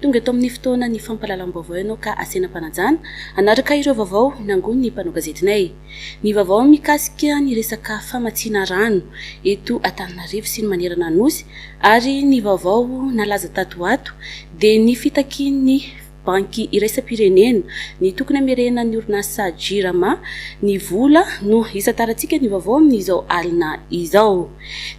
Tonga eto amin'ny fotoanan'ny fampahalalam-baovao ianao ka asiana fanajana hanaraka ireo vaovao nangonin'ny mpanao gazetinay. Ny vaovao mikasika ny resaka famatsiana rano eto Antananarivo sy ny manerana ny Nosy ary ny vaovao nalaza tato ho ato dia ny fitakian'ny Banky iraisam-pirenena ny tokony hamerenan'ny orinasa Jirama ny vola no hisantarantsika ny vaovao amin'izao alina izao.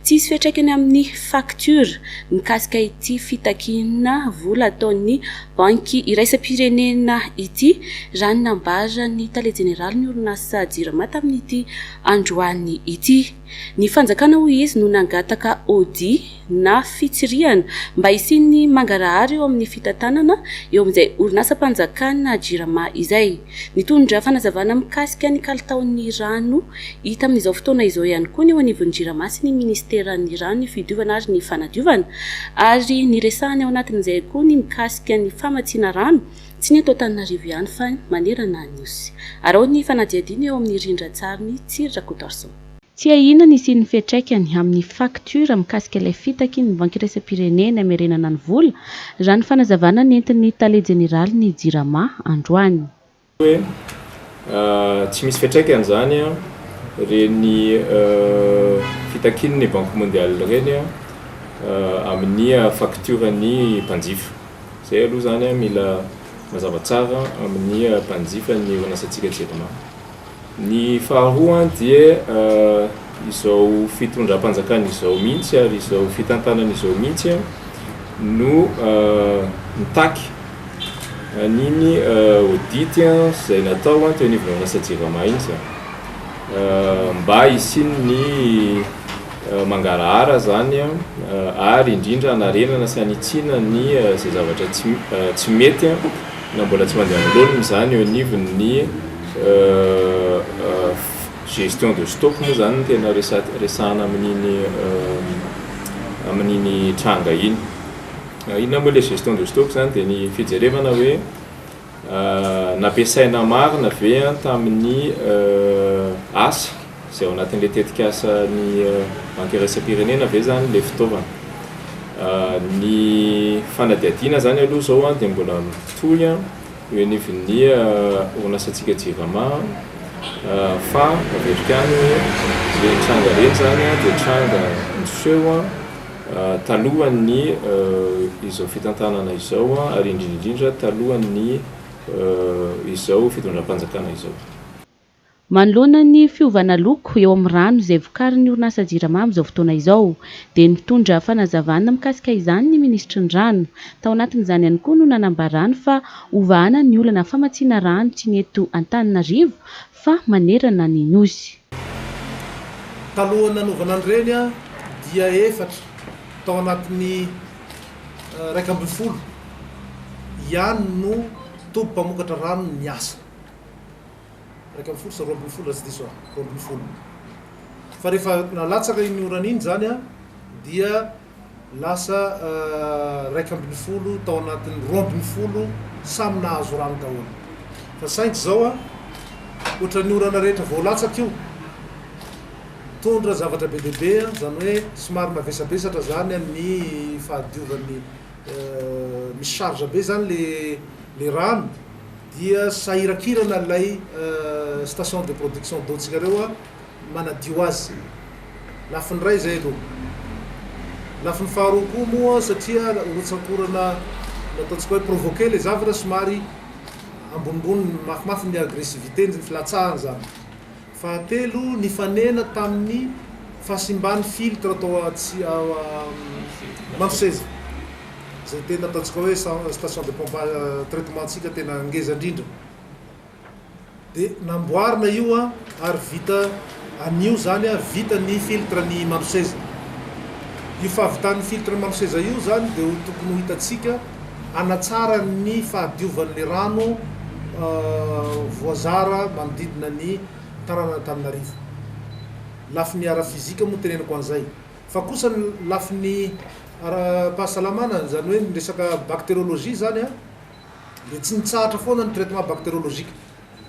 Tsy hisy fiantraikany amin'ny facture mikasika ity fitakiana vola ataon'ny banky iraisam-pirenena ity, raha ny nambaran'ny tale jeneralin'ny orinasa Jirama tamin'ity androany ity. Ny fanjakana hoy izy no nangataka audit na fitsirihana mba hisian'ny mangarahara eo amin'ny fitantanana eo amin'izay orinasam-panjakana Jirama izay. Nitondra fanazavana mikasika ny kalitaon'ny rano hita amin'izao fotoana izao ihany koa ny eo anivon'ny Jirama sy ny Ministeran'ny Rano, ny Fidiovana ary ny Fanadiovana ary niresahany ao anatin'izay koa ny mikasika ny famatsiana rano, tsy ny eto Antananarivo ihany fa manerana ny Nosy. Araho ny fanadihadiana eo amin'ny rindran-tsarin'i Tsiry Rakotoarison. Tsiahina ny hisian'ny fiantraikany amin'ny faktiora mikasika ilay fitaky ny Banky Iraisam-pirenena Hamerenana ny Vola, raha ny fanazavana nentin'ny Tale Jeneralin'ny Jirama androany. hoe tsy misy fiantraikany izany ireny fitakian'ny Banque Mondiale ireny amin'ny faktioran'ny mpanjifa. Izay aloha izany mila mazava tsara amin'ny mpanjifa ny orin'asantsika Jirama. Ny faharoa dia izao fitondram-panjakana izao mihitsy ary izao fitantanana izao mihitsy no mitaky an'iny audit izay natao teo anivon'ny orinasa Jirama iny izany. Mba hisian'ny mangarahara izany ary indrindra hanarenana sy hanitsiana ny izay zavatra tsy mety na mbola tsy mandeha amin'ny laoniny izany eo anivon'ny Gestion de stock moa izany no tena resahana amin'iny amin'iny tranga iny. Inona moa ilay gestion de stock izany dia ny fijerevana hoe nampiasaina marina ve tamin'ny asa izay ao anatin'ilay tetikasan'ny banky iraisam-pirenena ve izany ilay fitaovana. Ny fanadihadiana izany aloha izao dia mbola mitohy. eo anivon'ny orinasantsika Jivama fa averiko ihany hoe ireny tranga ireny izany dia tranga niseho talohan'ny izao fitantanana izao ary indrindra indrindra talohan'ny izao fitondram-panjakana izao. Manoloana ny fiovana loko eo amin'ny rano izay vokarin'ny orinasa Jirama amin'izao fotoana izao, dia nitondra fanazavana mikasika izany ny minisitry ny Rano. Tao anatin'izany ihany koa no nanambarany fa hovahana ny olana famatsiana rano tsy ny eto Antananarivo fa manerana ny Nosy. Talohan'ny nanaovana an'ireny dia efatra tao anatin'ny iraika ambin'ny folo ihany no toby mpamokatra rano niasa. Iraika ambin'ny folo sa roa ambin'ny folo raha tsy diso aho, roa ambin'ny folo. Fa rehefa nalatsaka iny orana iny izany an, dia lasa iraika ambin'ny folo tao anatin'ny roa ambin'ny folo samy nahazo rano daholo. Fa saingy izao an, ohatran'ny orana rehetra vao latsaka io, nitondra zavatra be dia be, izany hoe somary navesabesatra izany ny fahadiovan'ny, mi-charge be izany ilay rano. Dia sahirakirana ilay station de production d'eau ntsika-reo manadio azy. Lafiny iray izay aloha. Lafiny faharoa koa moa satria rotsakorana ataontsika hoe provoquer ilay zavatra somary ambonimbony mafimafy ny agressivité ny filatsahany izany. Fahatelo, nifanena tamin'ny fahasimban'ny filtre tao Marosezy, izay tena ataontsika hoe station de pompage traitement-ntsika tena ngeza indrindra. Dia namboarina io ary vita anio izany ary vita ny filtre ny Marosezy. Io fahavitan'ny filtre ny Marosezy io izany dia ho tokony ho hitantsika hanatsara ny fahadiovan'ny rano voazara manodidina ny tanànan'Antananarivo. Lafiny ara-fizika moa teneniko an'izay. Fa kosa ny lafiny ara-pahasalamana, izany hoe ny resaka bactériologie izany dia tsy nitsahatra foana ny traitement bactériologique,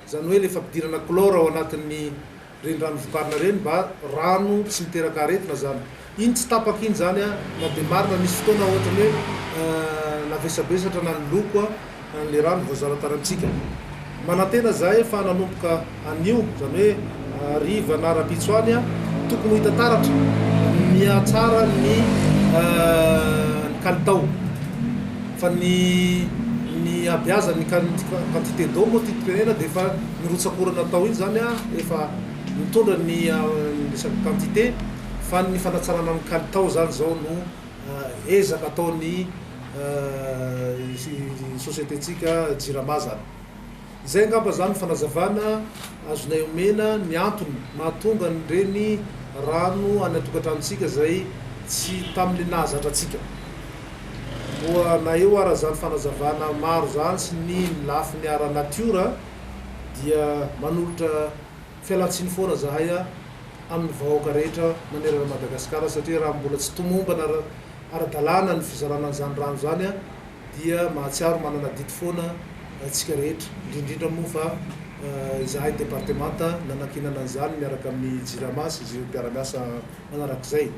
izany hoe ilay fampidirana chlore ao anatin'ny. renirano vokarina reny mba rano tsy miteraka aretina zany iny tsy tapaka iny zany a na de marina nisy fotoana ohatrany hoe navesabesatra na ny loko a le rano voazara tany amintsika manantena zahay fa nanomboka anio zany hoe hariva na rapitso any a tokony ho hita taratra mihatsara ny ny kalitao. Fa ny ny habeazan' ny quantité d'eau moa ity tenena dia efa ny rotsak'orana atao iny izany efa mitondra ny ny resaka quantité fa ny fanatsarana ny kalitao izany izao no ezaka ataon'ny société-ntsika Jirama zany. Izay angamba zany fanazavana azonay omena ny antony mahatonga an'ireny rano any an-tokantranontsika izay tsy tamin'ny nahazatra antsika. Moa na eo ara zany fanazavana maro zany sy ny ny lafiny ara natiora dia manolotra fialantsiny foana zahay a amin'ny vahoaka rehetra manerana an'i Madagasikara satria raha mbola tsy tomombana ara-dalàna ny fizarana an'izany rano izany a, dia mahatsiaro manana adidy foana isika rehetra, indrindrindra moa fa izahay departemanta nanankinana an'izany miaraka amin'ny Jirama sy ireo mpiara-miasa manarak'izay.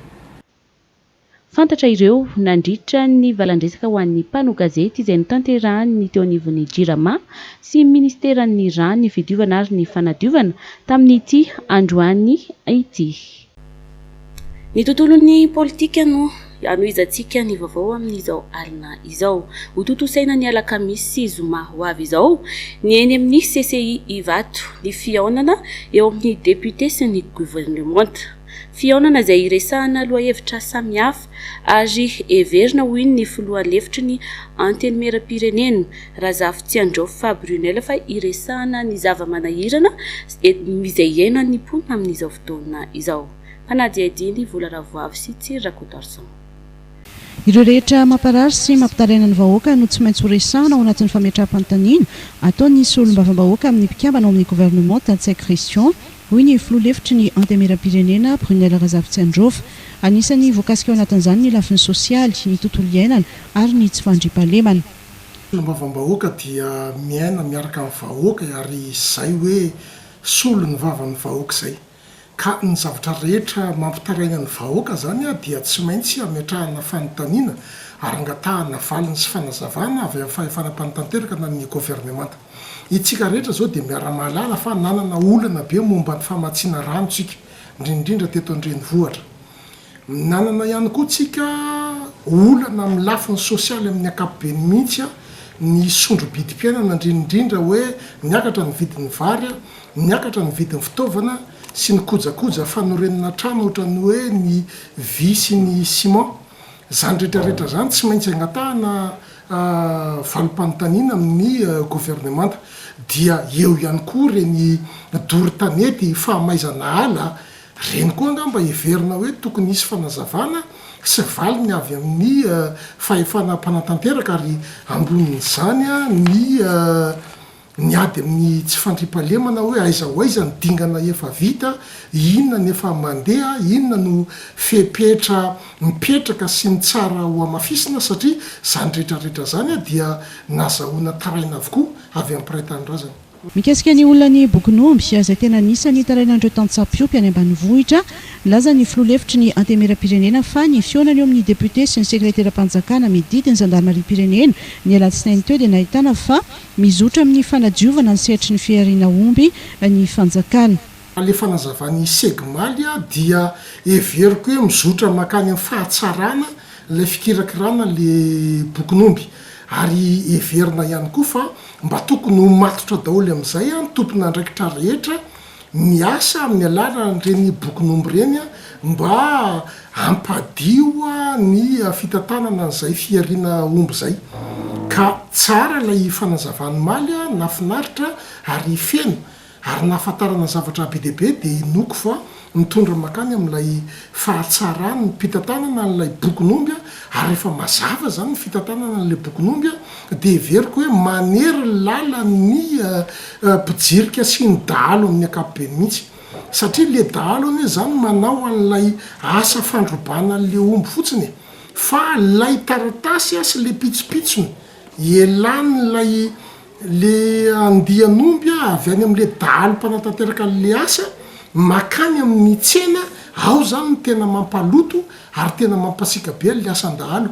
Fantatra ireo nandritra ny valandresaka ho an'ny mpanao gazety izay notanterahin'ny teo anivon'ny Jirama sy ministeran'ny Rà, ny Fidiovana ary ny Fanadiovana tamin'ity androany ity. Ny tontolon'ny politika no hanohizantsika ny vaovao amin'izao alina izao. Hotontosaina ny alakamisy sy zoma ho avy izao ny eny amin'ny CCI Ivato ny fihaonana eo amin'ny depiote sy ny governemanta. Fihaonana izay hiresahana lohahevitra samihafa ary heverina ho in'ny filoha lefitry ny Antenimierampirenena Razafitsiandraofa Brunelle fa hiresahana ny zava-manahirana Edm izay iainany ny mponina amin'izao fotoana izao. Mpanadihadihy ny vola Ravoavy sy Tsiry Rakotoarison. Ireo rehetra mamparary sy mampitaraina ny vahoaka no tsy maintsy ho resahana ao anatin'ny fametraham-panontaniana ataon'ny Solombavambahoaka amin'ny mpikambana ao amin'ny governemanta, Ntsay Christian, hoy ny filoha lefitry ny Antemieram-pirenena, Brunelle Razafitsiandrova. Anisan'ny voakasika ao anatin'izany ny lafiny sosialy, ny tontolo iainana ary ny tsy fandriampahalemana. Solombavambahoaka dia miaina miaraka amin'ny vahoaka ary izay hoe solo ny vavan'ny vahoaka izay. Ka ny zavatra rehetra mampitaraina ny vahoaka izany dia tsy maintsy hametrahana fanontaniana ary angatahana valiny sy fanazavana avy amin'ny fahefana mpanotanteraka na ny governemanta. Itsika rehetra izao dia miara-mahalala fa nanana olana be momba ny famatsiana rano isika, indrindra indrindra teto an-drenivohitra. Nanana ihany koa tsika olana amin'ny lafiny sosialy amin'ny ankapobeny mihitsy, ny sondro-bidim-piainana indrinindrindra hoe niakatra ny vidin'ny vary, niakatra ny vidin'ny fitaovana sy ny kojakoja fanorenana trano ohatran'ny hoe ny vy sy ny ciment. Izany rehetrarehetra izany tsy maintsy angatahana valim-panontaniana amin'ny governemanta. Dia eo ihany koa ireny doro tanety, fahamaizana ala Ireny koa angamba heverina hoe tokony hisy fanazavana sy valiny avy amin'ny fahefana mpanatanteraka ary ambonin'izany ny ny ady amin'ny tsy fandriampahalemana hoe aiza ho aiza ny dingana efa vita, inona ny efa mandeha, inona no fepetra mipetraka sy ny tsara ho hamafisina satria izany rehetra rehetra izany dia nazahoana taraina avokoa avy amin'ny mpiray tanindrazana. Mikasika ny olona ny bokin'omby, izay tena anisan'ny nitarainan'ireo tantsampiompy any ambanivohitra, nilaza ny filoha lefitry ny Antemieram-pirenena fa ny fihaonany eo amin'ny depiote sy ny sekreteram-panjakana mididy ny zandarimariam-pirenena ny alatsinainy teo dia nahitana fa mizotra amin'ny fanadiovana ny sehatry ny fihariana omby ny fanjakana. Raha ilay fanazavan'i Segmalia dia heveriko hoe mizotra mankany amin'ny fahatsarana ilay fikirakirana ilay bokin'omby. Ary heverina ihany koa fa mba tokony ho matotra daholo amin'izay ny tompon'andraikitra rehetra miasa amin'ny alalan'ireny bokin'omby ireny mba hampadio ny fitantanana an'izay fihariana omby izay. Ka tsara ilay fanazavany Maly a, nahafinaritra ary feno Ary ny nahafantarana zavatra be dia be dia inoako fa mitondra mankany amin'ilay fahatsarany ny mpitantanana an'ilay bokin'omby ary rehefa mazava izany ny fitantanana an'ilay bokin'omby dia heveriko hoe manery ny lalan'ny mpijirika sy ny dahalo amin'ny ankapobeny mihitsy satria ilay dahalo anie izany manao an'ilay asa fandrobana an'ilay omby fotsiny e! fa ilay taratasy sy ilay pitsopitsony elan'ilay Le andian'omby avy any amin'le dahalo mpanatanteraka an'le asa makany amin'ny tsena ao zany no tena mampaloto ary tena mampasiaka be an'le asan-dahalo.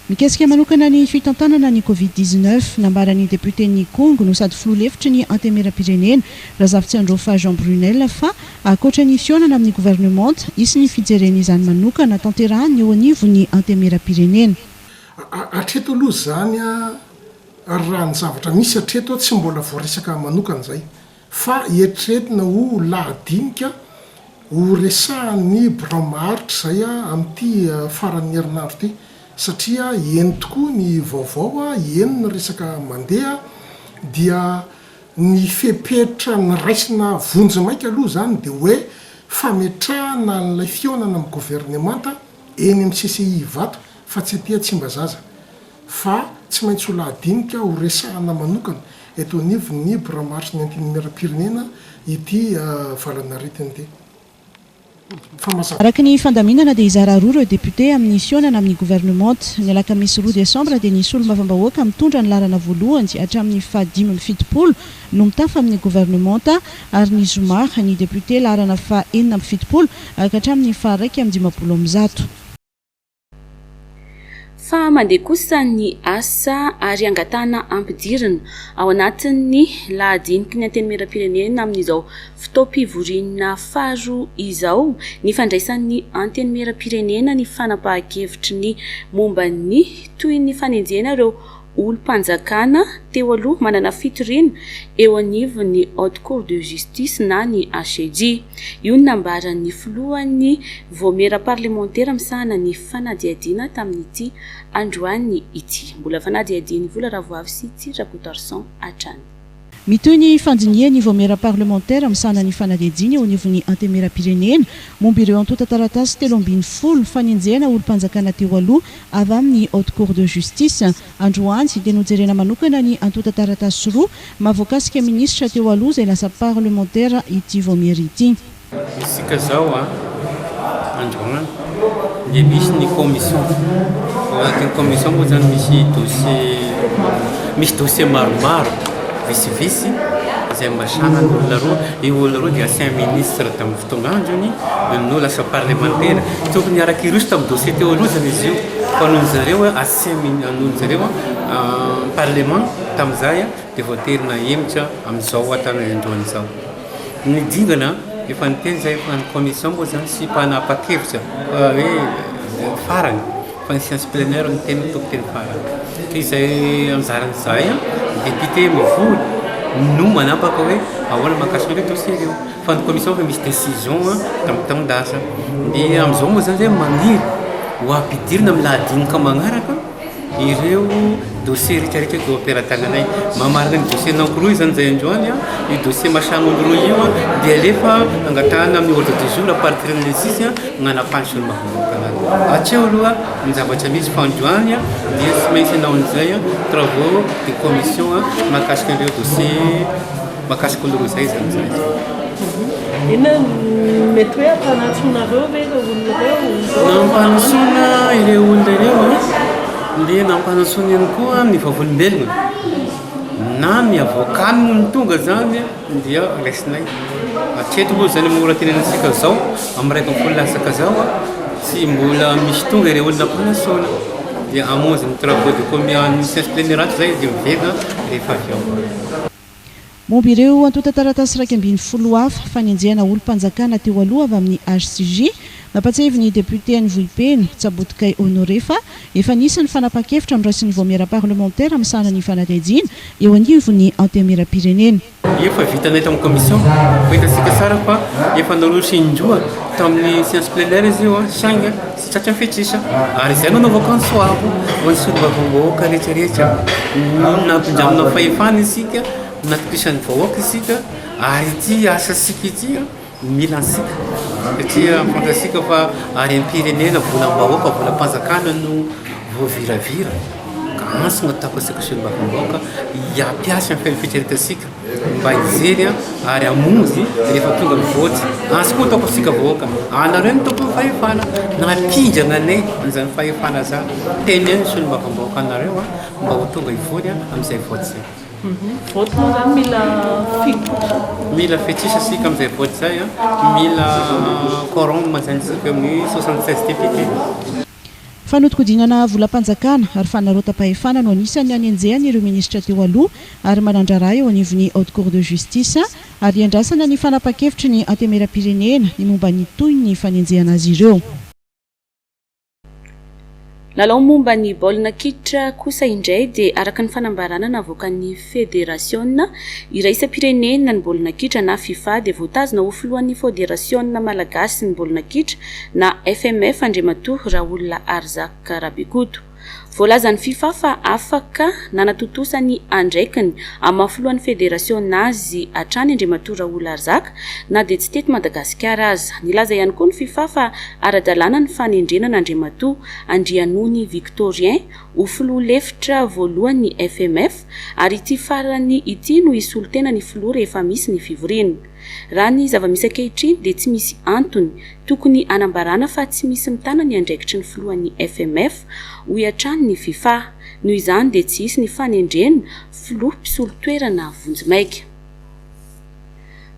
Mikasika manokana ny fitantanana ny Covid dix-neuf, nambaran'ny depioten'ny Ikongo no sady filoha lefitry ny Antemeram-pirenena, Razafitsiandrofa Jean Brunel fa ankoatra ny fihaonana amin'ny governemanta, hisy ny fijerena izany manokana tanterahan'ny eo anivon'ny Antemeram-pirenena. Hatreto aloha izany. Ary raha ny zavatra misy hatreto tsy mbola voaresaka manokana izay fa eritreretina ho lahadinika ho resahan'ny birao maharitra izay amin'ity faran'ny herinandro ity satria eny tokoa ny vaovao, eny ny resaka mandeha dia ny fepetra niraisina vonjimaika aloha izany dia hoe fametrahana an'ilay fihaonana amin'ny governemanta eny amin'ny CCI Ivato fa tsy aty Tsimbazaza. fa tsy maintsy ho lahadinika ho resahana manokana eto anivon'ny Biramarson'ny Antenimierampirenena ity valan'aretina ity. Famazavana. Araka ny fandaminana dia hizara roa ireo députés amin'ny fihaonana amin'ny gouvernementa. Ny alakamisy roa desambra dia ny solombavambahoaka mitondra ny laharana voalohany hatramin'ny fahadimy amby fitopolo no mitafa amin'ny gouvernementa ary ny zoma ny députés laharana faha enina amby fitopolo ka hatramin'ny faha iraika amby dimampolo amin'ny zato. Fa mandeha kosa ny asa ary angatahana ampidirina ao anatin'ny lahadiniky ny Antenimierampirenena amin'izao fotoam-pivoriana faharoa izao ny fandraisan'ny Antenimierampirenena ny fanapahan-kevitry ny momba ny tohin'ny fanenjehana ireo olom-panjakana teo aloha manana fitoriana eo anivon'ny Haute Cour de Justice na ny HCJ. Io no nambaran'ny filohan'ny Vaomiera parlemantera misahana ny fanadihadiana tamin'ity androany ity. Mbola fanadihadian'i Vola Ravoavy sy Ty Rakotoarison hatrany. Mitohy ny fandinihan'ny Vaomiera Parlemantera misahana ny fanadihadiana eo anivon'ny Antemieram-pirenena momba ireo antontan-taratasy telo ambin'ny folo fanenjehana olom-panjakana teo aloha avy amin'ny Haute Cour de Justice. Androany dia nojerena manokana ny antontan-taratasy roa maha voakasika minisitra teo aloha izay lasa parlemantera ity Vaomiera ity. Isika izao androany dia misy ny commission, ao anatin'ny commission moa izany misy dossier, misy dossier maromaro visivisy izay ambasana ny olona roa, io olona roa dia ancien ministre tamin'ny fotoan'androny, no lasa parlemantera, tokony araka iroso tamin'ny dossier teo aloha izany izy io, fa noho ny zareo ancien ministre, noho ny zareo parlement tamin'izay dia voatery nahemotra amin'izao hatramin'ny androany izao. Ny dingana an, efa niteny zay fa ny commission moa zany tsy mpanapakevitra fa hoe farany fa ny science plenaire no tena tokoteny farany. Izay anjaran'ny zahay an, député mivory no manapaka hoe ahoana mahakasika ireo dossier ireo fa ny commission efa misy décision an tamin'ny taon-dasa. Dia amin'izao moa zany zay maniry ho ampidirina amin'ny lahadinika manaraka. ireo dossier retraretra teo am-pelatananay mamarina ny dossier number roa izany zay androany a io dossier machin number roa io a dia alefa angatahana amin'ny ordre du jour apartiran'ny six a nanafany sy ny maha-vahoakana azy hatreo aloha ny zavatra misy fa androany a dia tsy maintsy anao an'izay a travaux de commission a mahakasika an'ireo dossier Mahakasika anareo izay izany izany. Inona no mety hoe ampanantsoinareo ve ireo olona ireo? Nampanantsoina ireo olona ireo dia nampanantsoina ihany koa ny vavolombelona na ny avocat no tonga izany dia raisinay. Hatreto aloha izany amin'ny oran-tenanantsika izao amin'ny iray ambin'ny folo latsaka izao tsy mbola misy tonga ireo olona ampanantsoina dia hamonjy ny travaux de commun an'ny Sciences de l'Emirates izay dia miverina rehefa avy ao. Momba ireo antontan-taratasy iraika ambin'ny folo hafa fanenjehana olom-panjakana teo aloha avy amin'ny HCJ, nampahatsiahy ny depiote any Vohipeno, Tsabotokay Honoré fa efa nisy ny fanapahan-kevitra noraisin'ny Vaomiera parlemantera misahana ny fanadihadiana eo anivon'ny Antenimierampirenena. Efa vitanay tamin'ny commission, fa hitantsika tsara fa efa naroso indroa tamin'ny seance plenaire izy io saingy Tratry ny fetr'isa, ary izay no anaovako ny soavy ho an'ny solombavambahoaka rehetrarehetra. Nampindramina fahefana isika, natokisan'ny vahoaka isika, ary ity asasika ity mila antsika, satria fantatsika fa harem-pirenena, volam-bahoaka, volam-panjakana no voaviravira, ka antso no ataoko antsika solombavambahoaka, hampiasa ny fetraretansika mba hijery ary hamonjy rehefa tonga ny vote azy koa ataoko isika vahoaka anareo ny tompon'ny fahefana nampindrana anay an'izany fahefana zany tena eo ny solombavambahoaka anareo a mba ho tonga hivory amin'izay vote zay vote moa zany mila fitrosa mila fitrosa isika amin'izay vote zay a mila quorum zany isika eo amin'ny 76 député Fanodinkodinana volam-panjakana ary fanarota-pahefana no anisan'ny anenjehany ireo minisitra teo aloha ary manan-draharaha eo anivon'ny Haute Cour de Justice ary iandrasana ny fanapahan-kevitry ny Antemeram-pirenena ny momba ny tohin'ny fanenjehana azy ireo. Lalao momba ny baolina kitra kosa indray dia araka ny fanambarana navoakan'ny. Federasiona iraisam-pirenena ny baolina kitra na Fifa dia voatazona ho filohan'ny Fôderasiona Malagasy ny baolina kitra na FMF Andriamatoa Raoul Arzak Rabikoto. Voalazan'ny Fifa fa afaka nanatontosa ny andraikiny amin'ny maha filohan'ny federasiona azy hatrany Andriamatoa Raoul Arzak na dia tsy teto Madagasikara aza. Nilaza ihany koa ny Fifa fa ara-dalàna ny fanendrena an'Andriamatoa Andrianony Victorien ho filoha lefitra voalohany ny FMF ary ity farany ity no hisolo tena ny filoha rehefa misy ny fivoriana. Raha ny zava-misy ankehitriny dia tsy misy antony tokony hanambarana fa tsy misy mitana ny andraikitry ny filohan'ny FMF, hoy hatrany ny Fifa. Noho izany dia tsy hisy ny fanendrena filoha mpisolo toerana vonjimaika.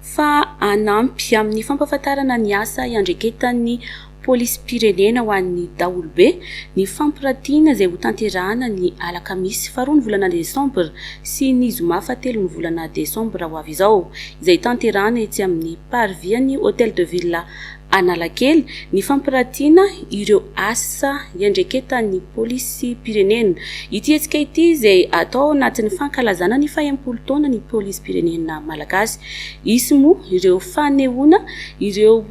Fa hanampy amin'ny fampahafantarana ny asa iandraiketan'ny Polisim-pirenena ho an'ny daholobe ny fampirantiana izay hotanterahana ny alakamisy faharoa ny volana desambra sy ny zoma fahatelo ny volana desambra ho avy izao, izay tanterahana etsy amin'ny Parvis an'ny Hôtel de Ville Analakely, ny fampirantiana ireo asa iandraiketan'ny Polisim-pirenena. Ity hetsika ity izay atao ao anatin'ny fankalazana ny fahaimpolo taona ny Polisim-pirenena Malagasy. Hisy moa ireo fanehoana ireo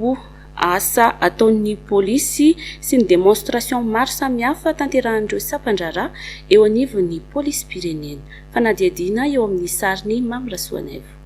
asa ataon'ny polisy sy ny démonstration maro samihafa tanterahan'ireo sampan-draharaha eo anivon'ny polisim-pirenena. Fanadihadiana eo amin'ny sarin'i Mamy Rasoanaivo.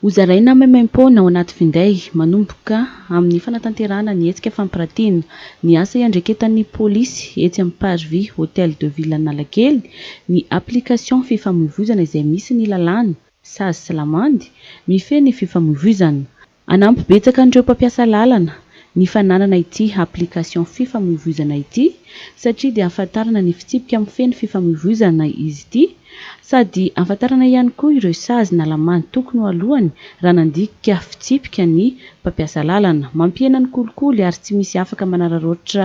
Hozaraina maimaimpoana ao anaty finday, manomboka amin'ny fanatanterahana ny hetsika fampiratiana ny asa iandraiketan'ny polisy etsy amin'ny Parvis Hôtel de Ville Analakely, ny application fifamoivoizana izay misy ny lalàna, sazy sy lamandy, mifehy ny fifamoivoizana. Hanampy betsaka an'ireo mpampiasa lalana ny fananana ity application fifamoivoizana ity satria dia ahafantarana ny fitsipika mifehy ny fifamoivoizana izy ity sady ahafantarana ihany koa ireo sazy na lamany tokony ho alohany raha nandika fitsipika ny mpampiasa lalana. Mampihena ny kolikoly ary tsy misy afaka manararaotra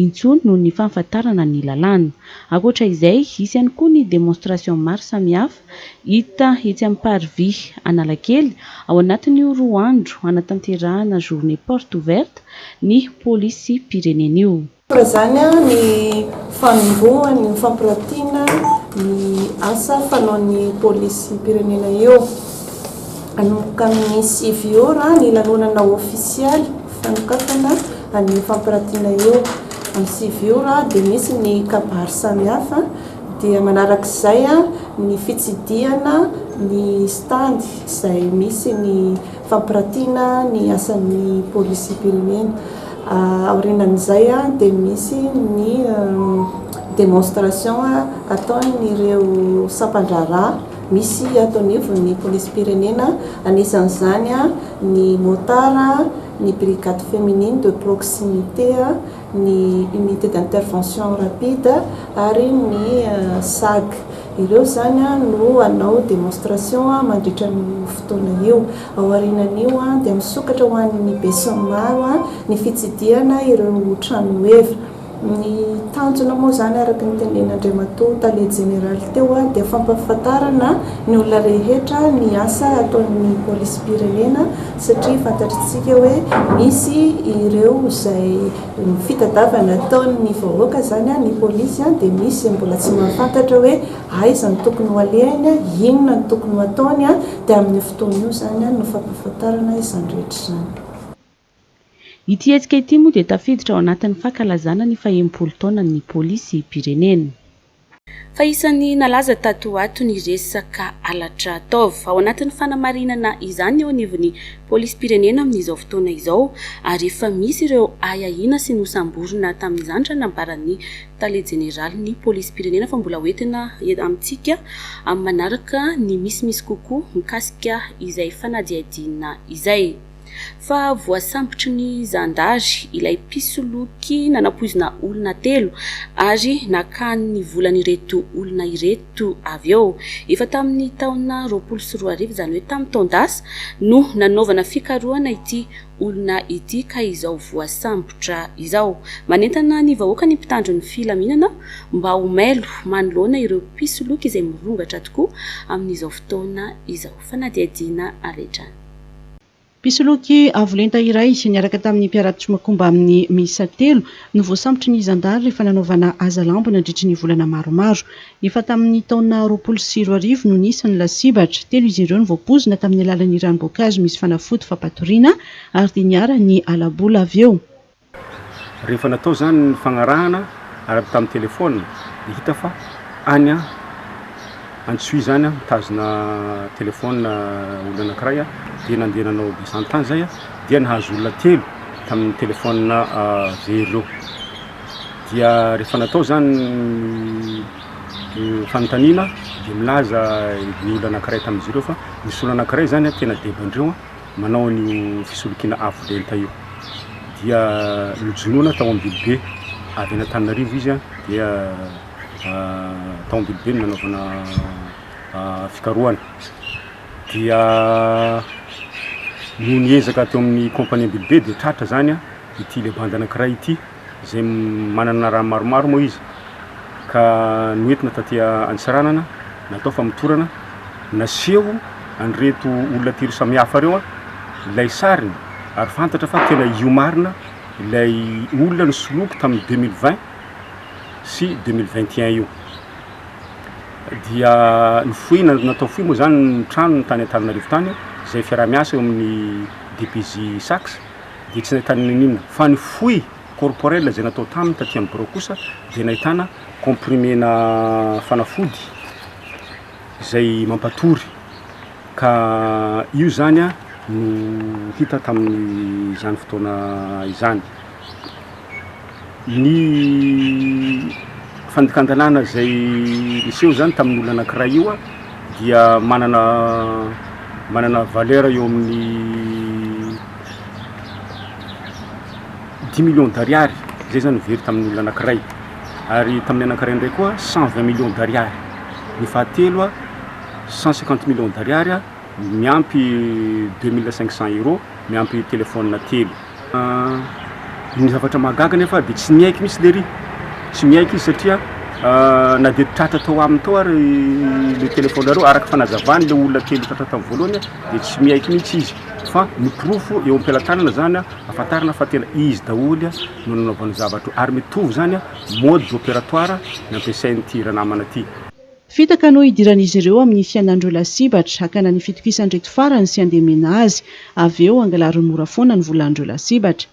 intsony noho ny fahafantarana ny lalàna. Ankoatra izay, hisy ihany koa ny démonstration maro samihafa. Hita etsy amin'ny Parvis Analakely ao anatin'io roa andro hanatanterahana Journée Porte Ouverte ny Polisim-pirenena io. Toa izany ny fanombohan' ny fampiratiana ny asa fanaon'ny Polisim-pirenena io. Hanomboka amin'ny sivy ora ny lanonana ôfisialy fanokafana an'io fampiratiana io. Amin'ny sivy ora dia misy ny kabary samihafa dia manarak'izay ny fitsidihana ny stand izay misy ny fampiratiana ny asan'ny polisy mpirimena. Aorianan'izay dia misy ny demonstration ataon'ireo sampan-draharaha misy ato anivon'ny polisim-pirenena, anisan'izany ny motard, ny brigade feminine de proximité. ny Unité d'Intervention Rapide ary ny SAG. Ireo izany no hanao démonstration mandritra an'io fotoana io. Ao aorianan'io dia misokatra ho an'ny besinimaro ny fitsidihana ireo tranoheva. Ny tanjona moa izany araka ny tenen'Andriamatoa Tale Jeneraly teo dia fampahafantarana ny olona rehetra ny asa ataon'ny Polisim-pirenena satria fantatritsika hoe misy ireo izay fitadiavana ataon'ny vahoaka izany, ny polisy, dia misy izay mbola tsy mahafantatra hoe aiza no tokony ho alehany, inona no tokony ho ataony, dia amin'io fotoana io izany no fampahafantarana izany rehetra izany. Ity hetsika ity moa dia tafiditra ao anatin'ny fankalazana ny fahenimpolo taonan'ny polisim-pirenena. Fa isan'ny nalaza tato ho ato ny resaka halatra taov. Ao anatin'ny fanamarinana izany eo anivon'ny polisim-pirenena amin'izao fotoana izao ary efa misy ireo ahiahiana sy nosamborina tamin'izany raha nambaran'ny tale jeneralin'ny polisim-pirenena fa mbola hoentina amintsika amin'ny manaraka ny misimisy kokoa mikasika izay fanadihadiana izay. fa voasambotry ny zandary ilay mpisoloky nanapoizina olona telo ary nakany ny volan'ireto olona ireto avy eo. Efa tamin'ny taona roapolo sy roa arivo, izany hoe tamin'ny taon-dasa, no nanaovana fikarohana ity olona ity ka izao voasambotra izao. Manentana ny vahoaka ny mpitandro ny filaminana mba ho mailo manoloana ireo mpisoloky izay mirongatra tokoa amin'izao fotoana izao fanadihadiana avy hatrany. Mpisoloky avo lenta iray niaraka tamin'ny mpiara-tsmakomba aminy miisa telo no voasambotry ny zandary rehefa nanaovana hazalambo nandritry ny volana maromaro. Efa tamin'ny taona roapolo sy roa arivo no nisy ny lasibatra. Telo izy ireo no voapoizina tamin'ny alalan'ny ranom-boankazo misy fanafody fampatoriana ary dia niharan'ny hala-bola avy eo. Rehefa natao izany ny fagnarahana ary tamin'ny telefaonina dia hita fa any Antsohihy izany mitazona telefaonina olona anankiray dia nandeha nanao descente tany izay dia nahazo olona telo tamin'ny telefaonina very ireo. Dia rehefa natao izany ny fanontaniana dia milaza ny olona anankiray tamin'izy ireo fa nisy olona anankiray izany tena devoandreo manao an'io fisolokiana afo lenta io dia nojonoina tao Ambilobe avy any Antananarivo izy a dia tao Ambilobe no nanaovana fikarohana dia noho ny ezaka teo amin'ny compagnie Ambilobe dia tratra zany a ity le bande anankiray ity izay manana rà maromaro moa izy ka noentina taty Antsiranana natao famotorana, naseho an'ireto olona telo samihafa ireo ilay sariny ary fantatra fa tena io marina ilay olona nisoloky tamin'ny deux mille vingt sy deux mille vingt et un io. Dia nofohina, natao fohy moa izany ny tranony tany Antananarivo tany izay fiaraha-miasa eo amin'ny DPJ Sax, dia tsy nahitany na inona, fa ny fouille corporelle izay natao taminy taty amin'ny birao kosa dia nahitana comprimena fanafody izay mampatory, ka io izany no hita tamin'izany fotoana izany. ny fandikan-dalàna izay niseho zany tamin'ny olona anankiray io dia manana manana valeur eo amin'ny dix millions d'ariary zay zany very tamin'ny olona anankiray ary tamin'ny anankiray indray koa cent vingt millions d'ariary ny fahatelo a cent cinquante millions d'ariary miampy deux mille cinq cents euros miampy telephone telo Ny zavatra mahagaga anefa dia tsy niaiky mihitsy lery, tsy niaiky izy satria na dia tratra tao aminy tao ary le telefaonareo, araka fanazavany le olona kely tratra tamin'ny voalohany dia tsy miaiky mihitsy izy fa ny porofo eo am-pelatanana zany ahafantarana fa tena izy daholo no nanaovany zavatra io ary mitovy zany mode operatoire nampiasain'ity ranamana ty. Fitaka no hidiran'izy ireo amin'ny fiainan'ireo lasibatra, hakana ny fitokisan'ireto farany sy handemena azy. Avy eo, hangalariny mora foana ny volan'ireo lasibatra.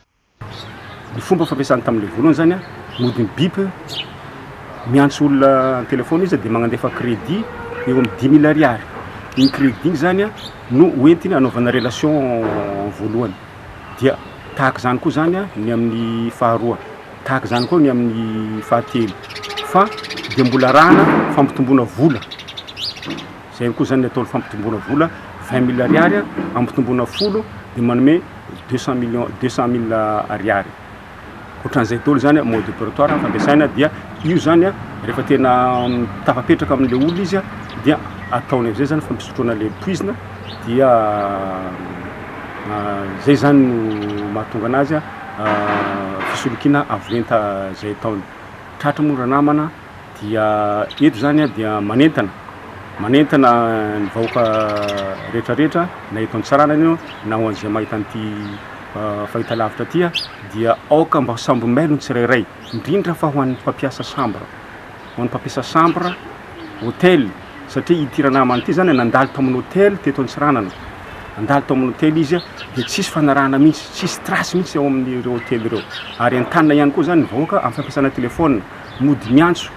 Ny fomba fampiasany tamin'ilay vola izany, mody mi-bip, miantso olona an-telefaona izy dia magnandefa credit eo amin'ny dimy mille ariary. Iny credit iny izany no hoentiny hanaovana relation voalohany. Dia tahaka izany koa izany ny amin'ny faharoa. Tahaka izany koa ny amin'ny fahatelo fa dia mbola arahana fampitomboana vola. Izay koa izany ny atao fampitomboana vola, vingt mille ariary ampitomboana folo dia manome deux cent millions, deux cent mille ariary. Ohatran'izay daholo izany mode opératoire fampiasaina dia io izany rehefa tena tafapetraka amin'ilay olona izy dia ataony amin'izay izany fampisotroana ilay poizina dia izay izany no mahatonga an'azy fisolokiana avo lenta izay ataony. Tratra moa ranamana dia eto izany dia manentana manentana ny vahoaka rehetra rehetra na eto an-tsarana io na ho an'izay mahita an'ity ah, fahitalavitra ity dia aoka mba sambo mailo ny tsirairay indrindra fa ho an'ny mpampiasa sambra ho an'ny mpampiasa chambre, hôtel, satria ity ranamana ity izany nandalo tao amin'ny hôtel teto Antsiranana, nandalo tao amin'ny hôtel izy dia tsisy fanarahana mihitsy, tsisy trace mihitsy ao amin'ireo hôtel ireo, ary entanina ihany koa izany ny vahoaka amin'ny fampiasana téléphone, mody miantso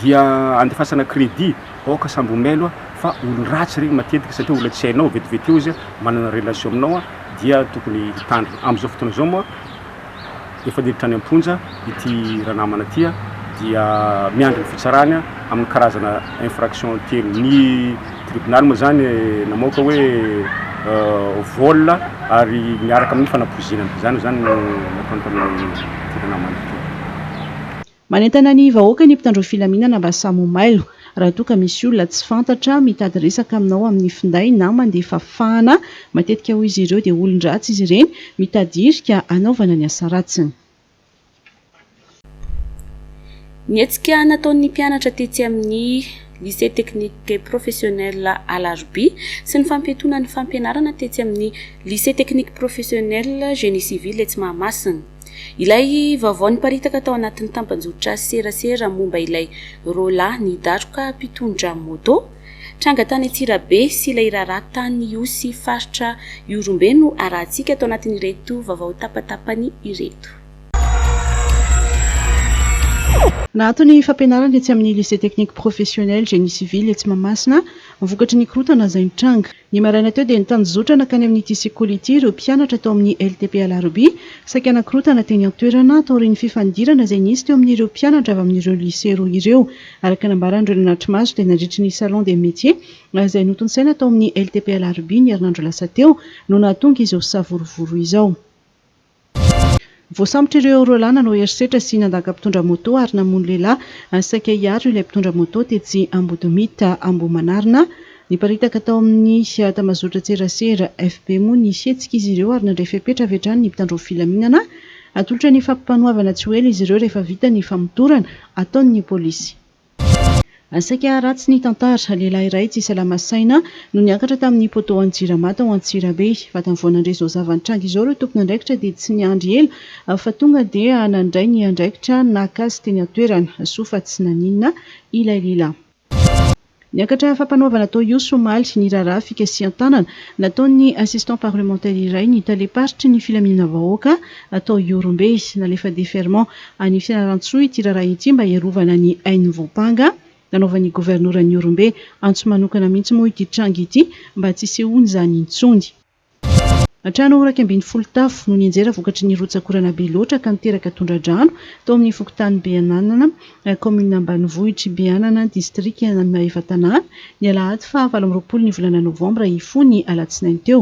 dia andefasana crédit, aoka sambo ho mailo fa olon-dratsy ireny matetika satria olona tsy hainao, vetivety eo izy manana relation aminao dia tokony hitandrina, amin'izao fotoana izao moa. efa niditra any am-ponja ity ranamana ity dia miandry ny fitsarany amin'ny karazana infraction telo. Ny tribonaly moa izany namoaka hoe euh, vol ary miaraka amin'ny fanapoizinana. Izany izany no natao tamin'ny ranamana ity. Manentana ny vahoaka ny mpitandro filaminana mba samy ho mailo raha toa ka misy olona tsy fantatra mitady resaka aminao amin'ny finday na mandefa fahana. Matetika hoy izy ireo dia olon-dratsy izy ireny mitady hirika hanaovana ny asa ratsiny. Ny hetsika nataon'ny mpianatra tetsy amin'ny Lycée Technique Professionnel Alarobia sy ny fampiatoana ny fampianarana tetsy amin'ny Lycée Technique Professionnel Génie Civil etsy Mahamasina. Ilay vaovao niparitaka tao anatin'ny tampanjotra serasera momba ilay roa lahy nidaroka mpitondra moto tranga tany Antsirabe sy ilay raharaha tany Ihosy faritra Ihorombe no arahantsika tao anatin'ireto vaovao tapatapany ireto. Naato ny fampianarana etsy amin'ny Lycée Technique Professionnel Génie Civil etsy Mahamasina vokatry ny korontana izay nitranga. Ny maraina teo dia nitanjozotra nankany amin'ity sekoly ity ireo mpianatra tao amin'ny LTP Alarobia, saika nankorontana teny an-toerana, taorian'ny fifandirana izay nisy teo amin'ireo mpianatra avy amin'ireo lycée roa ireo. Araka ny nambaran'ireo nanatri-maso dia nandritry ny salon des métiers izay notontosaina tao amin'ny LTP Alarobia ny herinandro lasa teo no nahatonga izao savorovoro izao. Voasambotra ireo roa lahy nanao herisetra sy nandaka mpitondra moto ary namono lehilahy saika hiaro ilay mpitondra moto tetsy Ambodimita Ambohimanarina. Niparitaka tao amin'ny Tambazotra-tserasera FB moa ny hetsika izy ireo ary nandray fepetra avy hatrany ny mpitandro ny filaminana. Atolotra ny fampanoavana tsy ho ela izy ireo rehefa vita ny famotorana ataon'ny polisy. Saika ratsy ny tantara, lehilahy iray tsy salama saina no niakatra tamin'ny poteau-n'ny Jirama tao Antsirabe. Vatany vao nandre izao zava-nitranga izao ireo tompon'andraikitra dia tsy niandry ela fa tonga dia nandray ny andraikitra naka azy teny an-toerana. Soa fa tsy naninona ilay lehilahy. Niakatra fampanoavana tao Ihosy omaly ny raharaha fikasihan-tanana nataon'ny assistant parlementaire iray ny talem-paritry ny filaminana vahoaka tao Ihorombe. Nalefa deferment any Fianarantsoa ity raharaha ity mba hiarovana ny ain'ny voampanga, nanaovan'ny governoran'i Ihorombe antso manokana mihitsy moa ity tranga ity mba tsy hisehoana izany intsony. Trano iraika ambin'ny folo tafo no nianjera vokatry ny rotsak'orana be loatra ka niteraka tondra-drano tao amin'ny fokontany Beananana, kaominina ambanivohitr'i Beanana, distrikan'i Maevatanàna, ny alahady faha valo amby roapolo ny volana novambra hifoha ny alatsinainy teo.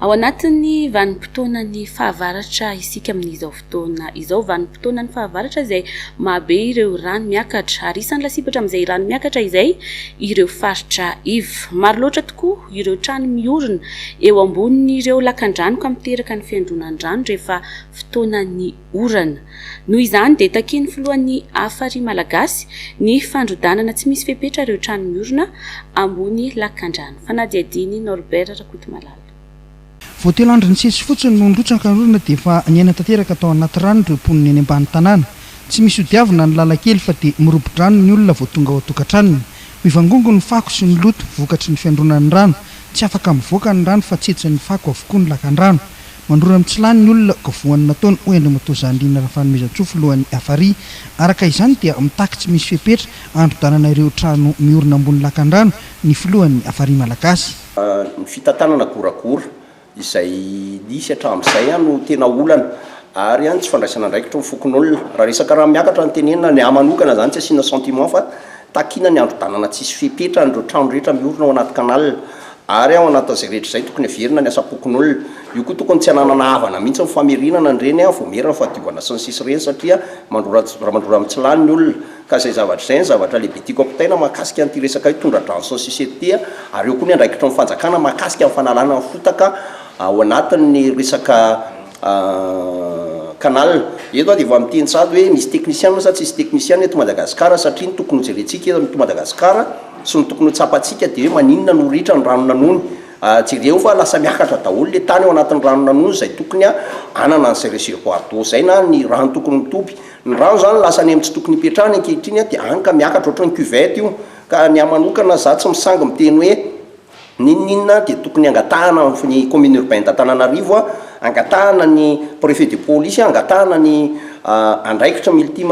Ao anatin'ny vanim-potoanan'ny fahavaratra isika amin'izao fotoana izao. Vanim-potoanan'ny fahavaratra izay mahabe ireo rano miakatra, ary isan'ny lasibatra amin'izay rano miakatra izay ireo faritra iva. Maro loatra tokoa ireo trano miorina eo ambonin'ireo lakan-drano ka miteraka ny fiandronan-drano rehefa fotoanan'ny orana. Noho izany dia takian'ny filohan'ny Afari malagasy ny fandrodanana tsy misy fepetra ireo trano miorina ambony lakandrano. Fanadihadian'i Norbert Rakotomalala. Vao telo andro nisesy fotsiny no nirotsaka ny orana dia efa niaina tanteraka tao anaty rano ireo mponina eny ambany tanàna. Tsy misy hodiavina ny lalan-kely fa dia mirobo-drano ny olona vao tonga ao an-tokantranony. Mivangongo ny fako sy ny loto vokatry ny fiandronan'ny rano. Tsy afaka mivoaka ny rano fa tsetsin'ny fako avokoa ny lakandrano. Mandrora amin'ny tsy lany ny olona ka voan'ny nataony, hoy Andriamatoa Zandriana Rafanomezantsoa, filohan'ny Afari. Araka izany dia mitaky tsy misy fepetra handrodanana ireo trano miorina ambony lakandrano ny filohan'ny Afari malagasy. Ny fitantanana goragora izay nisy hatramin'izay no tena olana ary ny tsy fandraisana andraikitra ny fokonolona. Raha resaka rano miakatra no tenenina, ny ahy manokana izany tsy asiana sentiment fa takiana ny handrodanana tsisy fepetra an'ireo trano rehetra miorina ao anaty canal Ary ao anatin'izay rehetra izay, tokony haverina ny asam-pokonolona. Io koa tokony tsy hananana havana mihitsy ny famerenana an'ireny a, voamierana, fahadiovana sy ny sisa ireny satria mandrora ramandrora amin'ny tsy lany ny olona. Ka izay zavatra izay no zavatra lehibe tiako ampitaina mahakasika an'ity resaka hoe tondra-drano sy ny sisa eto ity a. Ary eo koa ny andraikitry ny fanjakana mahakasika ny fanalana ny fotaka ao anatin'ny resaka Ahh canal. Eto aho dia vao miteny sahady hoe misy technician sa tsisy technician eto Madagascar satria ny tokony ho jerentsika eto Madagascar sy ny tokony ho tsapantsika dia hoe maninona no ritra ny rano nanony. Ahh jereo fa lasa miakatra daholo ilay tany ao anatin'ny rano nanony izay tokony hanana an'izay reservoir d'eau izay na ny rano tokony mitoby. Ny rano izany lasa any amin'ny tsy tokony hipetrahany ankehitriny dia any ka miakatra ohatran'ny cuvette io. Ka ny ahy manokana izaho tsy misangy miteny hoe N'inon'inona dia tokony hangatahana ny commune urbaine d'Antananarivo, hangatahana ny prefet de police, hangatahana ny andraikitra multi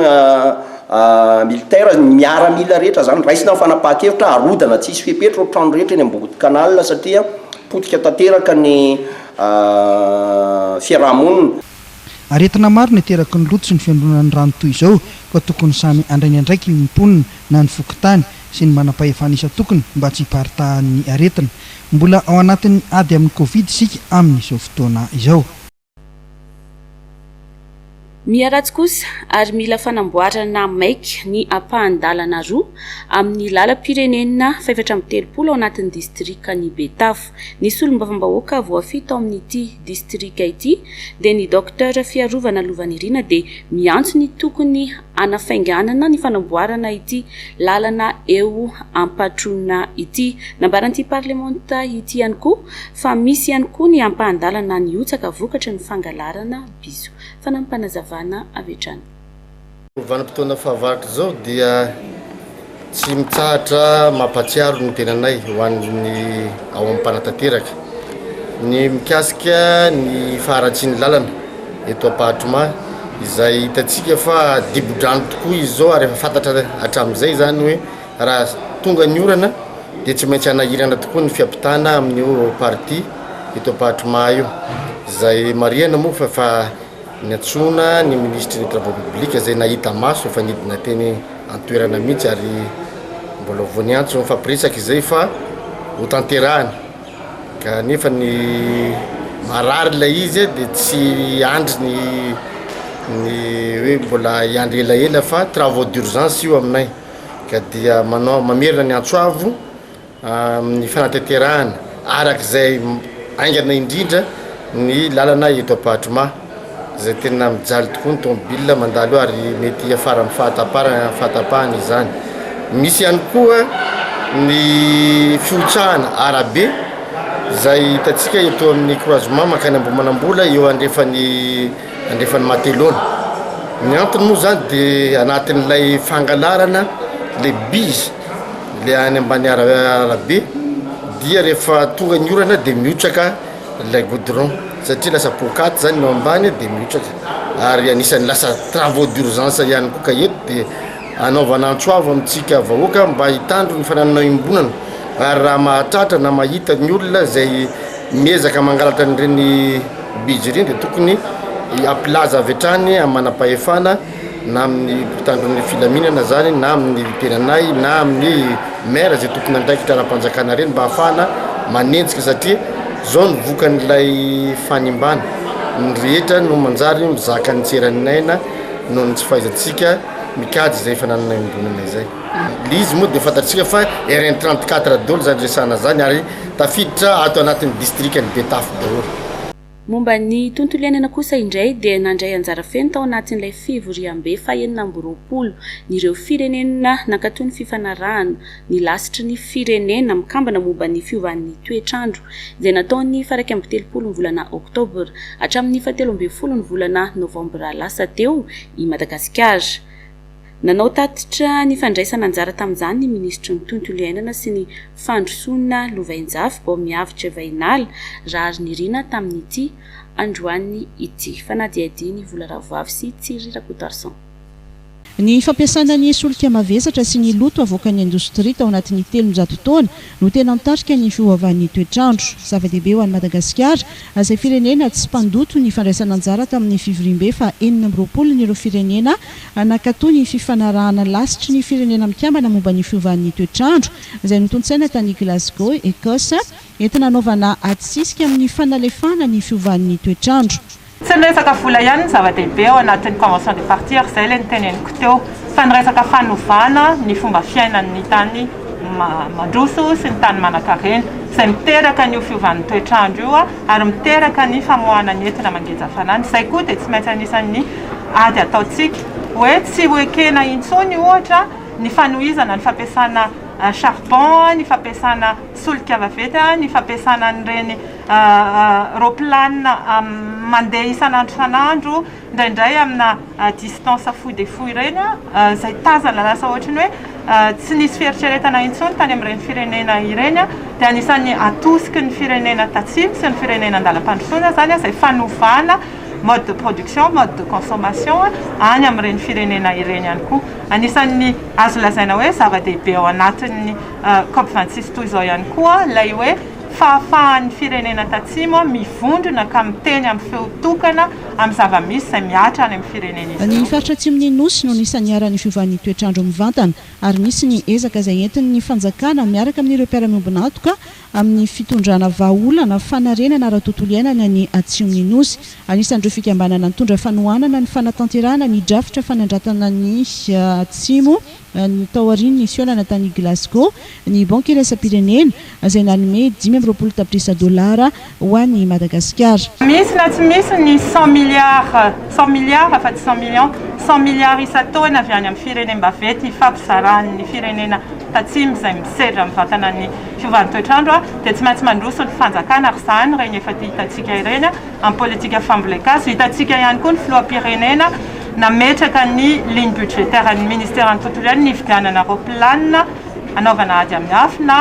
militaire, ny miaramila rehetra izany raisina ny fanapahan-kevitra, harodana tsisy fepetra ireo trano rehetra eny Ambodin'ny canal satria potika tanteraka ny fiaraha-monina. Aretina maro no ateraky ny loto sy ny fiandronan'ny rano toy izao, koa tokony samy handray ny andraikiny ny mponina na ny fokontany sy ny manam-pahefana isan-tokony mba tsy hiparitahan'ny aretina. Mbola ao anatin'ny ady amin'ny Covid isika amin'izao fotoana izao. Miharatsy kosa ary mila fanamboarana maika ny ampahan-dalana roa amin'ny lalam-pirenena fahefatra amby telopolo ao anatin'ny distrikan'i Betafo. Ny solombavambahoaka voafidy tao amin'ity distrika ity dia ny Docteur Fiarovana Lovanirina dia miantso ny tokony hanafainganana ny fanamboarana ity lalana eo Ampatrona ity. Nambaran'ity parlemanta ity ihany koa fa misy ihany koa ny ampahan-dalana nihotsaka vokatry ny fangalarana bizo. Fanampim-panazavana avy hatrany. Vanim-potoana fahavaratra izao dia Tsy mitsahatra mampahatsiaro ny tenanay ho an'ny ao amin'ny mpanatanteraka ny mikasika ny faharatsian'ny lalana eto Ampahatromà izay hitantsika fa dibo-drano tokoa izy izao ary efa fantatra hatramin'izay izany hoe raha tonga ny orana dia tsy maintsy hanahirana tokoa ny fiampitana amin'io partie eto Ampahatromà io izay marihana moa fa Niantsoana ny minisitry ny Travaux publics izay nahita maso efa nidina teny an-toerana mihitsy ary mbola vao niantso nifampiresaka izay fa hotanterahany kanefa ny marary ilay izy dia tsy hiandry ny ny hoe mbola hiandry elaela fa travaux d'urgence io aminay ka dia manao mamerina ny antso avo amin'ny fanatanterahana araka izay haingana indrindra ny lalana eto Ampahadromà izay tena mijaly tokoa ny tomobilina mandalo eo ary mety hiafara amin'ny fahataparana fahatapahana izany. Misy ihany koa ny fihotsahana arabe izay hitantsika eto amin'ny croisement mankany Ambohimanambola eo andrefan'ny andrefan'ny Matelona. Ny antony moa izany dia anatin'ilay fangalarana ilay bus. le any ambany arabe dia rehefa tonga ny orana dia mihotraka ilay goudron satria lasa poakaty zany no ambany dia mihotraka ary anisan'ny lasa travaux d'urgence ihany koa ka eto dia anaovana antso avo amintsika vahoaka mba hitandro ny fananana iombonana ary raha mahatratra na mahita ny olona izay miezaka mangalatra an'ireny bijy ireny dia tokony hampilaza avy hatrany amin'ny manam-pahefana na amin'ny mpitandro ny filaminana izany na amin'ny tenanay na amin'ny maire izay tompon'andraikitra ara-panjakana ireny mba hahafahana manenjika satria izao ny vokan'ilay fanimbana, ny rehetra no manjary mizaka ny tsy eran'ny aina noho ny tsy fahaizantsika mikajy izay fananana iombonana izay. Ilay izy moa dia fantatsika fa RN trente quatre daholo izany resahana izany ary tafiditra ato anatin'ny distrikan'i Betafo daholo. Momba ny tontolo iainana kosa indray dia nandray anjara feno tao anatin'ilay fivoriambe fahenina amby roapolo ny ireo firenena nankato ny fifanarahana ny lasitry ny Firenena mikambana momba ny fiovan'ny toetr'andro izay natao ny faraika amby telopolo ny volana oktobra hatramin'ny fahatelo ambin'ny folo ny volana novambra lasa teo i Madagasikara. Nanao tatitra ny fandraisana anjara tamin'izany ny minisitry ny Tontolo iainana sy ny fandrosoana lovainjafy vao mihavitra Vahinala, Raharinirina tamin'ity androany ity. Fanadihadian'i Vola Ravoavy sy Thierry Rakotoarison. Ny fampiasana ny solika mavesatra sy ny loto avoakan'ny indostria tao anatin'ny telonjato taona no tena mitarika ny fiovaovan'ny toetr'andro. Zava-dehibe ho an'i Madagasikara, izay firenena tsy mpandoto ny fandraisana anjara tamin'ny fivoriambe faha enina amby roapolon'ireo firenena nankato ny fifanarahana lasitry ny Firenena Mikambana momba ny fiovan'ny toetr'andro izay notontsaina tany Glasgow, Ecosse, entina hanaovana ady sisika amin'ny fanalefahana ny fiovan'ny toetr'andro. Tsy ny resaka vola ihany no zava-dehibe ao anatin'ny convention de partir, izay ilay noteneniko teo, fa ny resaka fanovana ny fomba fiainan'ny tany mandroso sy ny tany manankarena, izay miteraka an'io fiovan'ny toetr'andro io ary miteraka ny famoahana ny entona mangeja hafanana. Izay koa dia tsy maintsy anisan'ny ady ataontsika, hoe tsy ho ekena intsony ohatra ny fanohizana ny fampiasana charbon, ny fampiasana solika vaventy, ny fampiasana an'ireny Raoplanina mandeha isan'andro isan'andro, indraindray amina distance fohy dia fohy ireny, izay tazana lasa ohatry ny hoe tsy nisy fieritreretana intsony tany amin'ireny firenena ireny, dia anisan'ny atosiky ny firenena tatsimo sy ny firenena an-dalam-pandrosoana izany izay fanovana mode de production, mode de consommation any amin'ireny firenena ireny ihany koa. Anisan'ny azo lazaina hoe zava-dehibe ao anatin'ny Cop vingt six toy izao ihany koa ilay hoe fahafahan'ny firenena tatsimo mivondrona ka miteny amin'ny feo tokana amin'ny zava-misy izay mihatra any amin'ny firenen'izy ireo. Ny faritra atsimon'ny Nosy no anisan'ny iharan'ny fiovan'ny toetr'andro mivantana ary misy ny ezaka izay entin'ny fanjakana miaraka amin'ireo mpiara-miombon'antoka amin'ny fitondrana vahaolana fanarenana ara-tontolo iainana ny atsimon'ny Nosy. Anisan'ireo fikambanana nitondra fanohanana ny fanatanterahana ny drafitra fanandratana ny Atsimo ny tao aorian'ny fihaonana tany Glasgow, ny Banky Iraisam-pirenena, izay nanome dimy amby roapolo tapitrisa dolara ho an'i Madagasikara. Misy na tsy misy ny cent milliards, cent milliards fa tsy cent millions, cent milliards isan-taona avy any amin'ny firenem-baventy ifampizaran'ny firenena tatsimo izay misedra amin'ny vatanan'ny fiovan'ny toetr'andro dia tsy maintsy mandroso ny fanjakana ary izany ireny efa hitantsika ireny. Amin'ny politika fambolen-kazo, hitantsika ihany koa ny filoham-pirenena nametraka ny ligne budgétaire ny ministeran'ny tontolo iainana hividianana raoplanina hanaovana ady amin'ny afo na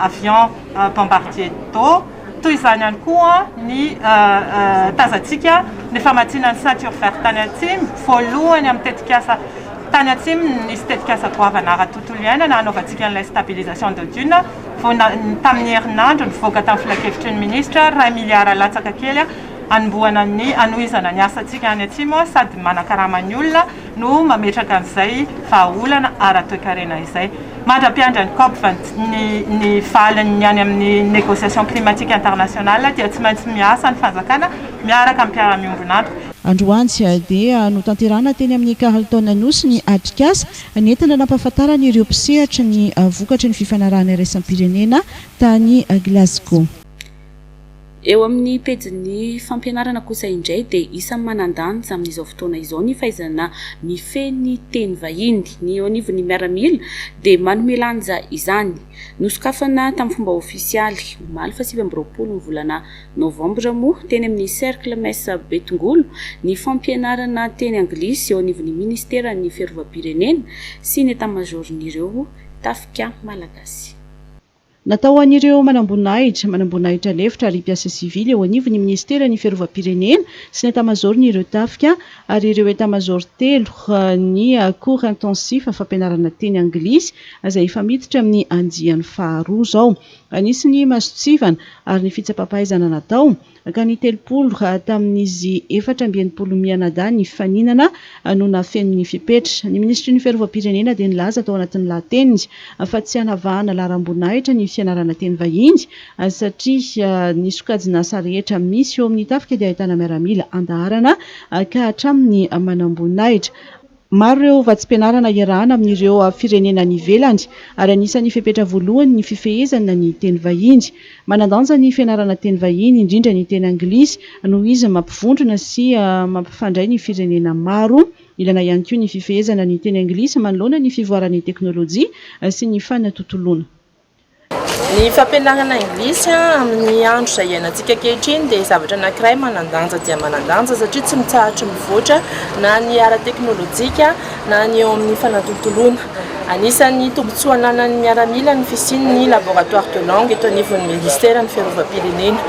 avion bombardier d'eau. Toy izany ihany koa ny tazantsika ny famatsiana ny ceinture verte tany Atsimo, voalohany amin'ny tetikasa tany Atsimo ny nisy tetikasa goavana ara-tontolo iainana hanaovantsika an'ilay stabilisation de dune. vao tamin'ny herinandro nivoaka tamin'ny filankevitry ny minisitra, iray miliara latsaka kely hanombohana ny hanohizana ny asantsika any Atsimo sady manakarama ny olona no mametraka an'izay vahaolana ara-toekarena izay. Mandra-piandry an'i Cop ny valiny ny any amin'ny Négociation climatique internationale dia tsy maintsy miasa ny fanjakana miaraka amin'ny mpiara-miombon'antoka. Androany dia notanterahina teny amin'ny Carlton Anosy ny atrikasa Nentina nampahafantarana ireo mpisehatra ny vokatry ny fifanarahana iraisam-pirenena tany Glasgow. Eo amin'ny pejin'ny fampianarana kosa indray dia isan'ny manan-danja amin'izao fotoana izao ny fahaizana mifehy ny teny vahiny. Ny eo anivon'ny miaramila dia manome lanja izany. Nosokafana tamin'ny fomba ofisialy, omaly fahasivy amby roapolo ny volana Novambra moa, teny amin'ny Cercle Messa Betongolo, ny fampianarana teny anglisy eo anivon'ny Ministeran'ny Fiarovam-pirenena sy ny Etamazaoron'ireo Tafika Malagasy. Natao ho an'ireo manamboninahitra, manamboninahitra lefitra ary mpiasa sivily eo anivon'ny Ministeran'ny Fiarovam-pirenena sy ny Etamazaoron'ireo Tafika ary ireo Etamazaoro telo ny Cours Intensif fampianarana teny anglisy izay efa miditra amin'ny andiany faharoa izao. Nisy ny masontsivana ary ny fitsapam-pahaizana natao, ka ny telopolo tamin'izy efatra amby enimpolo mianadahy nifaninana no nafeno ny fepetra. Ny minisitry ny Fiarovam-pirenena dia nilaza tao anatin'ny lahateniny fa tsy hanavahana laharam-boninahitra ny fianarana teny vahiny, satria ny sokajin'asa rehetra misy eo amin'ny tafika dia ahitana miaramila an-daharana ka hatramin'ny manamboninahitra. Maro ireo vatsim-pianarana iarahana amin'ireo firenena any ivelany, ary anisan'ny fepetra voalohany ny fifehezana ny teny vahiny. Manan-danja ny fianarana teny vahiny, indrindra ny teny anglisy, noho izy mampivondrona sy mampifandray ny firenena maro. Ilaina ihany koa ny fifehezana ny teny anglisy manoloana ny fivoaran'ny teknolojia sy ny fanatontoloana. Ny fampianarana anglisy amin'ny andro izay iainantsika ankehitriny dia zavatra anankiray manan-danja dia manan-danja satria tsy mitsahatry mivoatra na ny ara-teknolojika na ny eo amin'ny fanatontoloana. Anisan'ny tombontsoa ananan'ny miaramila ny fisian'ny Laboratoire de langue eto anivon'ny Ministeran'ny Fiarovam-pirenena.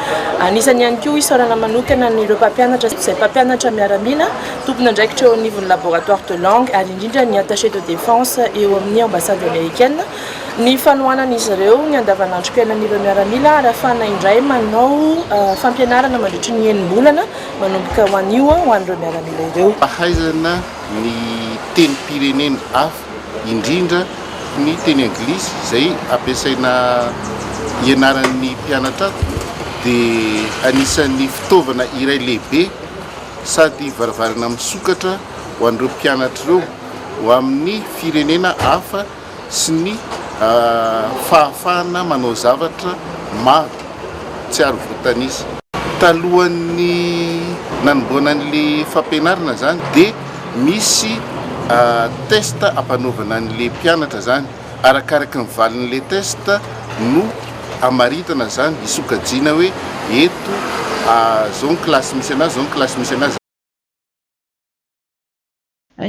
Anisany ihany koa isaorana manokana an'ireo mpampianatra izay mpampianatra miaramila, tompon'andraikitra eo anivon'ny Laboratoire de langue ary indrindra ny Attaché de défense eo amin'ny Ambassade Amerikana, Ny fanohanan'izy ireo ny andavanandrom-piainan'ireo miaramila arafana indray manao fampianarana mandritry ny enim-bolana manomboka ho anio ho an'ireo miaramila ireo. Fahaizana ny tenim-pirenena hafa, indrindra ny teny anglisy izay ampiasaina ianaran'ny mpianatra ato dia anisan'ny fitaovana iray lehibe sady varavarana misokatra ho an'ireo mpianatra ireo ho amin'ny firenena hafa, sy ny fahafahana manao zavatra maro tsy ary voatanisa. Talohan'ny nanomboana an'le fampianarana zany de misy test ampanaovana an'le mpianatra zany, arakaraky ny valin'le test no amaritana zany, hisokajiana hoe eto zao ny classe misy anazy, zao ny classe misy anazy.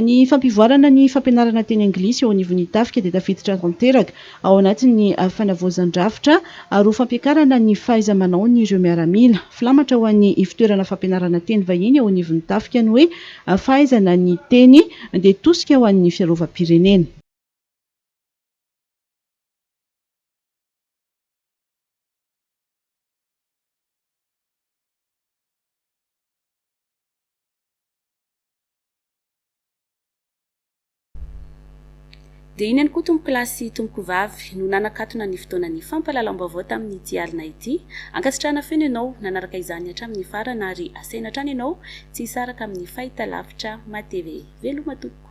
Ny fampivoarana ny fampianarana teny anglisy eo anivon'ny tafika dia tafiditra tanteraka ao anatin'ny fanavaozan-drafitra roa fampiakarana ny fahaiza-manaon'ireo miaramila. Filamatra ho an'ny ivotoerana fampianarana teny vahiny eo anivon'ny tafika ny hoe fahaizana ny teny dia tosika ho an'ny fiarovam-pirenena. Dia iny ihany koa tompokolahy sy tompokovavy no nanakatona ny fotoanan'ny fampahalalam-baovao tamin'ity alina ity. Ankasitrahana feno ianao nanaraka izany hatramin'ny farany ary asaina hatrany ianao tsy hisaraka amin'ny fahitalavitra matv. Veloma tompoko.